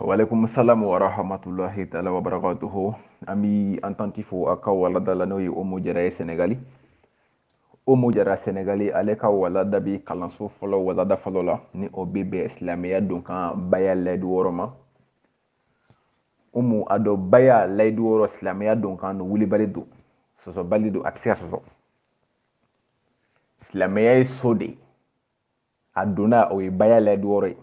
Walekum salam wa rahmatullahi ta'ala wa barakatuhu an bi an tanti fo a ka walada la n'o ye umu jara ye senegali umu jara senegali ale ka walada bi kalanso fɔlɔ walada fɔlɔ la ni o bɛ bɛn silamɛya don kan baya layidu wɔɔrɔ ma umu a dɔ baya layidu wɔɔrɔ silamɛya don kan don wulibali don sɔsɔbali don a tɛ se ka sɔsɔ silamɛya ye so de ye a donna o ye baya layidu wɔɔrɔ ye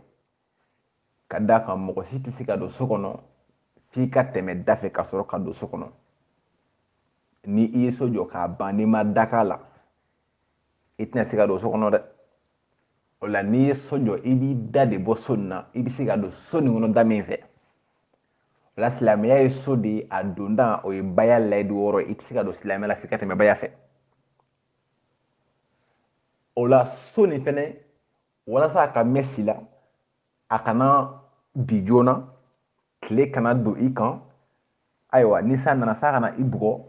ka d'a kan mɔgɔ si tɛ se ka don so kɔnɔ f'i ka tɛmɛ da fɛ ka sɔrɔ ka don so kɔnɔ ni i ye so jɔ k'a ban n'i ma da k'a la i tɛna se ka don so kɔnɔ dɛ o la n'i ye so jɔ i bi da de bɔ so nin na i bɛ se ka don so nin kɔnɔ da min fɛ o la silamɛya ye so de ye a donda o ye baya layidu wɔɔrɔ ye i tɛ se ka don silamɛya la f'i ka tɛmɛ baya fɛ o la so nin fɛnɛ walasa a ka mɛn si la a kana bin joona tile kana don i kan ayiwa ni san nana san kana i bugɔ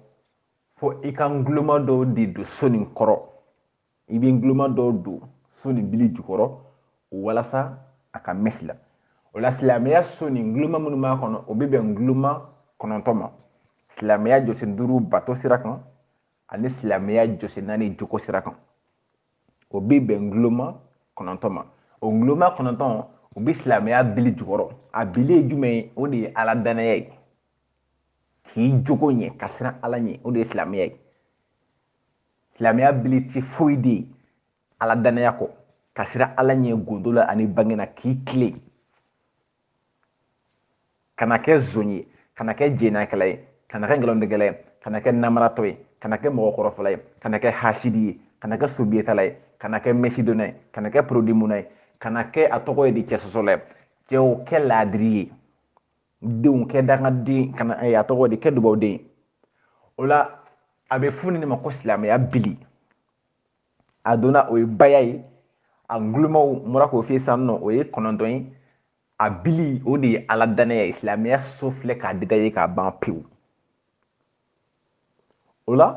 fo i ka nguloma dɔw de don so nin kɔrɔ i bɛ nguloma dɔw don so nin bili jukɔrɔ walasa a ka mɛn si la o la silamɛya so nin nguloma minnu b'a kɔnɔ o bɛ bɛn nguloma kɔnɔntɔn ma silamɛya jɔsen duuru bato sira kan ani silamɛya jɔsen naani jogo sira kan o bɛ bɛn nguloma kɔnɔntɔn ma o nguloma kɔnɔntɔn o bɛ silamɛya bili jukɔrɔ a bili ye jumɛn ye o de ye ala danaya ye k'i jogo ɲɛ ka siran ala ɲɛ o de ye silamɛya ye silamɛya bili tɛ foyi de ye ala danaya kɔ ka siran ala ɲɛ gondo la ani bange na k'i tilen kana kɛ zon ye kana kɛ jɛnɛyakɛla ye kana kɛ nkalontigɛla ye kana kɛ namaratɔ ye kana kɛ mɔgɔ kɔrɔfɔla ye kana kɛ hasidi ye kana kɛ sobiyetala ye kana kɛ mɛsidonna ye kana kɛ porodimunna ye kana kɛ a tɔgɔ ye di cɛsɔsɔla ye cɛw kɛ laadiri ye denw kɛ dangaden kana eh, a tɔgɔ di kɛ dubawuden o la a bɛ fɔ nin ma ko silamɛya bili a donna o ye baya ye a ngulomaw n bɔra k'o f'i ye sisan nɔ o ye kɔnɔntɔn ye a bili o de ye ala dannaya ye silamɛya so filɛ k'a détaillé k'a ban pewu o la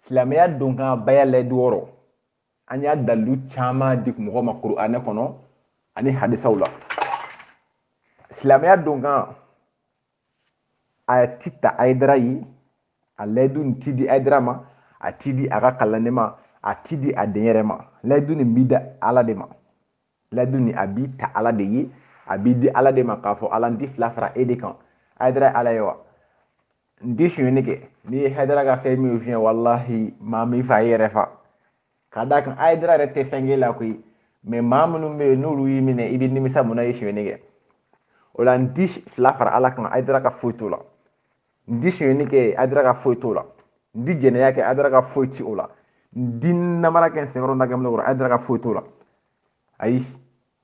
silamɛya don kan baya layidu wɔɔrɔ an y'a dalilu caman di mɔgɔ ma kuranɛ kɔnɔ ani hadisaw la silamɛya don kan a ti ta ayidara ye a layidu nin ti di ayidara ma a ti di a ka kalanden ma a ti di a denyɛrɛ ma layidu nin bi da ala de ma layidu nin a bi ta ala de ye a bi di ala de ma k'a fɔ ala n ti fila fara e de kan ayidara ala ye wa n ti sonyɛni kɛ n'i ye hayidara ka fɛn min fiɲɛ walahi maa min fa i yɛrɛ fa ka d'a kan ayidara yɛrɛ tɛ fɛn k'e la koyi mɛ maa minnu bɛ yen n'olu y'i minɛ i bɛ nimisa mun na i ye sonyɛni kɛ o la n ti fila fara ala kan ayidara ka foyi t'o la n ti sonyɛni kɛ ayidara ka foyi t'o la n ti jɛnɛya kɛ ayidara ka foyi ti o la n ti namara kɛ n senkɔrɔ na kɛ minɛ kɔrɔ ayidara ka foyi t'o la ayi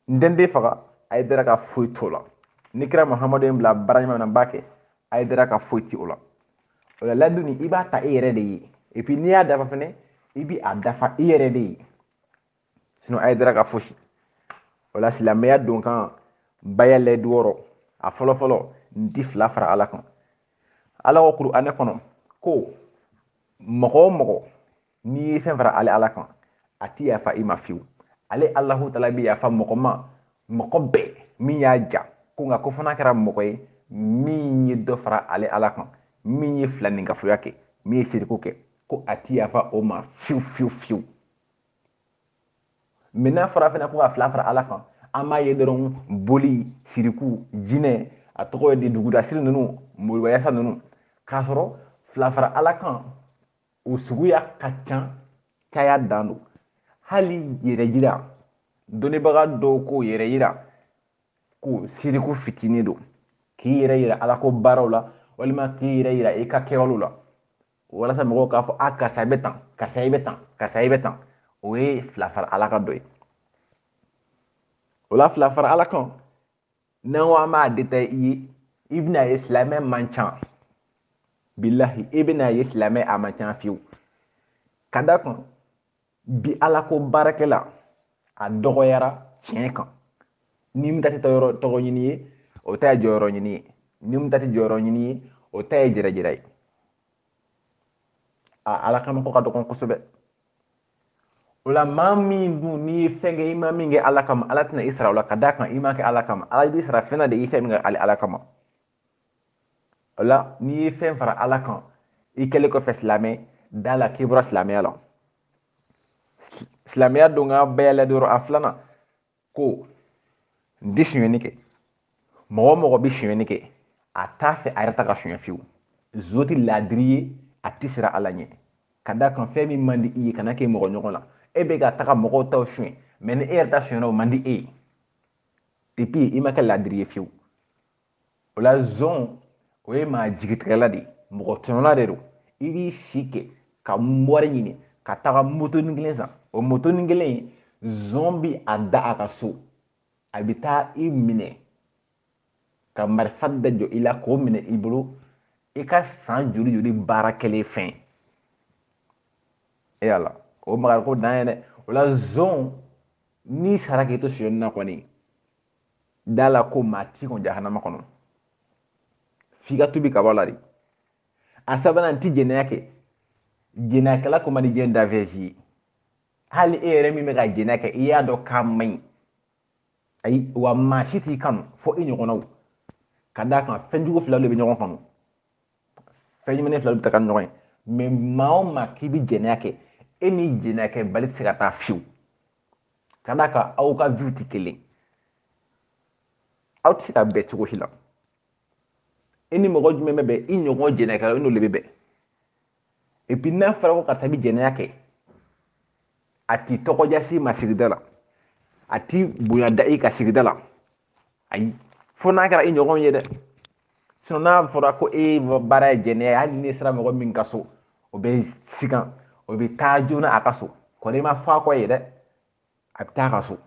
n tɛ n den faga ayidara ka foyi t'o la ni kira muhamadu ye n bila baara ɲuman na n b'a kɛ ayidara ka foyi ti o la o la layidu nin i b'a ta i yɛrɛ de ye et puis n'i y'a dafa fɛnɛ i bi a dafa i yɛrɛ de ye sinon ayidara ka fosi o la silamɛya don kan baya layidu wɔɔrɔ a fɔlɔ fɔlɔ n ti fila fara ala kan ala ko kuranɛ kɔnɔ ko mɔgɔ o mɔgɔ n'i ye fɛn fara ale ala kan a ti yafa i ma fiyewu ale alahu taala bɛ yafa mɔgɔ ma mɔgɔ bɛɛ min y'a ja ko nka ko fo n'a kɛra mɔgɔ ye min ye dɔ fara ale ala kan min ye filaninkafoya kɛ min ye siriku kɛ ko a ti yafa o ma fiyewu fiyewu fiyewu mais n'a fɔra fana ko ka fila fara ala kan an b'a ye dɔrɔn boli siriku jinɛ a tɔgɔ ye di dugudasiri ninnu moribayasa ninnu k'a sɔrɔ fila fara ala kan o suguya ka ca caya dan don hali yɛrɛyira dɔnnibaga dɔw ko yɛrɛyira ko siriku fitinin don k'i yɛrɛ yira ala ko baaraw la walima k'i yɛrɛ yira i ka kɛwalew la walasa mɔgɔw k'a fɔ a karisa i bɛ tan karisa i bɛ tan karisa i bɛ tan o ye fila fara ala kan dɔ ye o la fila fara ala kan n'an ko an b'a détailler i bɛna ye silamɛ man ca bilahi e bɛna ye silamɛ a man ca fiyewu ka d'a kan bi ala ko baarakɛla a dɔgɔyara tiɲɛ kan ni min ta tɛ yɔrɔ tɔgɔ ɲini ye o ta ye jɔyɔrɔ ɲini ye ni min ta tɛ jɔyɔrɔ ɲini ye o ta ye yɛrɛyira ye a ala kama ko ka dɔgɔn kosɛbɛ o la maa min dun n'i ye fɛn kɛ i ma min kɛ ala kama ala tɛna i sara o la ka d'a kan i m'a kɛ ala kama ala b'i sara fɛn na de i fɛn min kɛ ale ala kama o la n'i ye fɛn fara ala kan i kɛlen kɔfɛ silamɛ da la k'i bɔra silamɛya la silamɛya don kan baya layidu wɔɔrɔ a filanan ko n tɛ sonyɛni kɛ mɔgɔ o mɔgɔ bɛ sonyɛni kɛ a t'a fɛ a yɛrɛ ta ka sonyɛ fiyewu zon tɛ laadiri ye a tɛ siran ala ɲɛ ka d'a kan fɛn min man di i ye kana kɛ mɔgɔ ɲɔgɔn na e bɛ ka taga mɔgɔw taw sonyɛ mais ni e yɛrɛ ta sonyɛna o man di e ye et puis i ma kɛ laadiri ye fiyewu o la zon o ye maa jigitigɛla de ye mɔgɔ tɔɲɔna de don i b'i si kɛ ka wari ɲini ka taga motonin kelen san o motonin kelen zon bi a da a ka so a bɛ taa i minɛ ka marifa da jɔ i la k'o minɛ i bolo i ka san joli joli baara kɛlen fɛn e ya ala o makariko dan ye dɛ o la zon n'i sara k'i to sonyɛni na kɔni da la ko maa t'i kɔn jahanama kɔnɔ f'i ka tubi ka bɔ a la dɛ a sabanan ti jɛnɛya kɛ jɛnɛyakɛla ko man di jɛn danfɛn si ye hali e yɛrɛ min bɛ ka jɛnɛya kɛ i y'a dɔn k'a man ɲi ayiwa maa si t'i kanu fo i ɲɔgɔnnaw ka d'a kan fɛn jugu fila de bɛ ɲɔgɔn kanu fɛn ɲumanin fila bɛ taga ni ɲɔgɔn ye mɛ maa o maa k'i bɛ jɛnɛya kɛ e ni jɛnɛyakɛbali tɛ se ka taa fiyewu ka d'a kan aw ka viw tɛ kelen aw tɛ se ka bɛn cogo si la i ni mɔgɔ jumɛn bɛ bɛn i ɲɔgɔn jɛnɛkɛlaw i n'olu de bɛ bɛn et puis n'a fɔra ko karisa bɛ jɛnɛya kɛ a t'i tɔgɔ diya si ma sigida la a ti bonya da i kan sigida la ayi fo n'a kɛra i ɲɔgɔn ye dɛ sinon n'a fɔra ko e baara ye jɛnɛya ye hali n'i sera mɔgɔ min ka so o bɛ sigan o bɛ taa joona a ka so ko n'i ma fɔ a kɔ yen dɛ a bɛ taa a ka so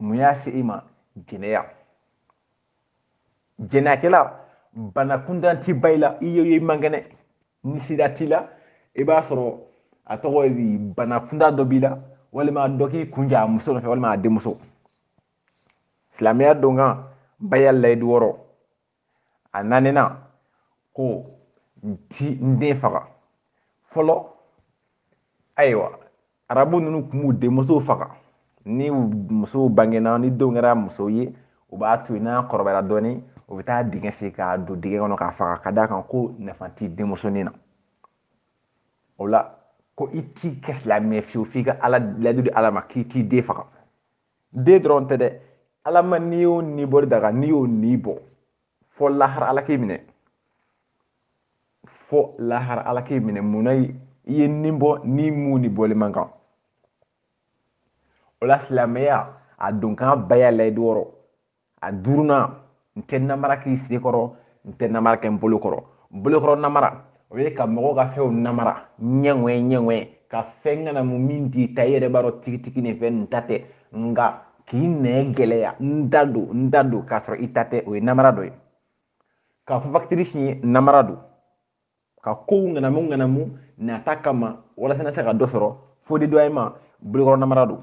mun y'a se i ma jɛnɛya jɛnɛyakɛla bana kuntan ti ban i la i ye i man kɛnɛ ni sida t'i la i b'a sɔrɔ a tɔgɔ ye bana kuntan dɔ b'i la walima dɔ k'i kun ci a muso nɔfɛ walima a denmuso silamɛya donkan baya layidu wɔɔrɔ a naaninan ko n ti n den faga fɔlɔ ayiwa arabu ninnu tun b'u denmusow faga ni musow bangena ni denw kɛra muso ye u b'a to yen n'a kɔrɔbayara dɔɔnin u bɛ taa dingɛ sen k'a don dingɛ kɔnɔ k'a faga ka d'a kan ko nafa tɛ denmusonin na o la ko i t'i kɛ silamɛ fiyewu f'i ka ala layidu di ala ma k'i t'i den faga den dɔrɔn tɛ dɛ ala ma ni o ni bɔli daga n'i y'o ni bɔ fo lahara ala k'i minɛ fo lahara ala k'i minɛ munna i ye ni bɔ ni mun ni bɔli man kan o la silamɛya a donkan baya layidu wɔɔrɔ a duurunan n tɛ namara k'i sen kɔrɔ n tɛ namara kɛ n bolo kɔrɔ bolokɔrɔ namara o ye ka mɔgɔw ka fɛnw namara ɲɛŋɔɛ ɲɛŋɔɛ ka fɛn ŋanamu min t'i ta i yɛrɛ b'a dɔn tigitigi nin fɛn nin n ta tɛ nka k'i ɲɛ gɛlɛya n ta don n ta don k'a sɔrɔ i ta tɛ o ye namara dɔ ye ka fo fakitiri siɲɛ namara don ka kow ŋanamu ŋanamu nata kama walasa na se ka dɔ sɔrɔ fo de dɔ ma bolokɔrɔ namara don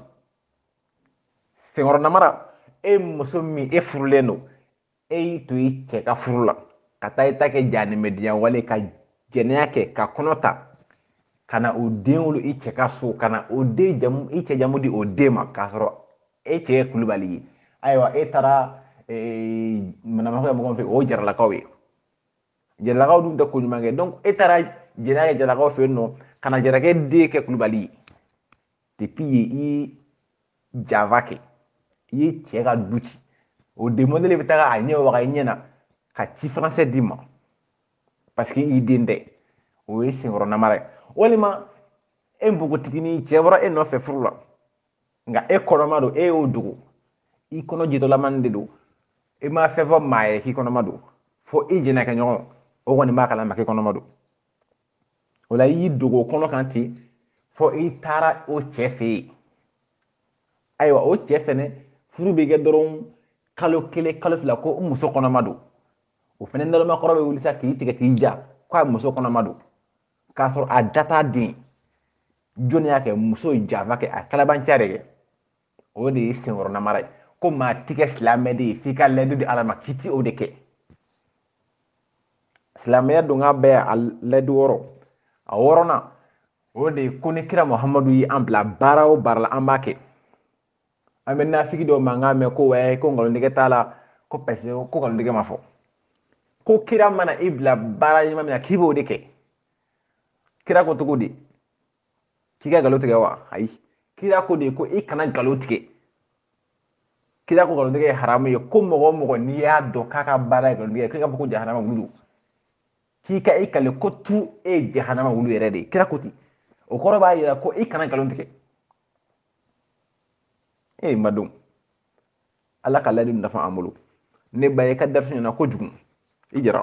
senkɔrɔ namara e muso min e furulen don e y'i to i cɛ ka furu la ka taa i ta kɛ janimɛdiya wale ka jɛnɛya kɛ ka kɔnɔ ta ka na o den wolo i cɛ ka so ka na o den jamu i cɛ jamu di o den ma k'a sɔrɔ e cɛ ye kulubali ye ayiwa e taara manamana kɛ mɔgɔ fɛ o ye jaralakaw ye jaralakaw dun tɛ ko ɲuman kɛ donc e taara jɛnɛya kɛ jaralakaw fɛ yen nɔ ka na jarakɛ den kɛ kulubali ye depuis yen i ye janfa kɛ i ye cɛ ka du ci o den modèle bɛ taga a ɲɛ waga i ɲɛ na k'a ti faran si d'i ma parce que i den tɛ o ye senkɔrɔ namara ye walima e npogotiginin cɛ bɔra e nɔfɛ furu la nka e kɔnɔma don e y'o dogo i kɔnɔ jitɔlamani de don i ma fɛn fɔ maa ye k'i kɔnɔma don fo i jɛnɛkɛ ɲɔgɔn o kɔni b'a kalama k'i kɔnɔma don o la i y'i dogo kɔnɔ kan ten fo i taara o cɛ fɛ yen ayiwa o cɛ fɛnɛ furu bɛ kɛ dɔrɔn kalo kelen kalo fila ko n muso kɔnɔma don o fɛnɛ nalomakɔrɔ bɛ wuli sa k'i tigɛ k'i ja k'a muso kɔnɔma don k'a sɔrɔ a da t'a den jɔnni y'a kɛ muso ye janfa kɛ a kalabanciya de kɛ o de ye senkɔrɔ namara ye ko maa ti kɛ silamɛ de ye f'i ka layidu di ala ma k'i ti o de kɛ silamɛya donkan baya layidu wɔɔrɔ a wɔɔrɔnan o de ko ni kira muhamadu ye an bila baara o baara la an b'a kɛ an bɛ nafigi dɔw mankan mɛn ko wɛɛ ko nkalontigɛ t'a la ko parce que ko nkalontigɛ ma fɔ ko kira mana i bila baara ɲuman min na k'i b'o de kɛ kira ko cogo di k'i ka nkalon tigɛ wa ayi kira ko di ko i kana nkalon tigɛ kira ko nkalontigɛ ye haramu ye ko mɔgɔ o mɔgɔ n'i y'a dɔn k'a ka baara ye nkalontigɛ k'i ka fɔ ko jahanama wulu k'i ka i kali k'o tigi ye jahanama wulu yɛrɛ de ye kira ko ten o kɔrɔ b'a yira ko i kana nkalon tigɛ ee madon ala ka layidu nafa an bolo ne ba ye ka darisi ɲɛna kojugu i jara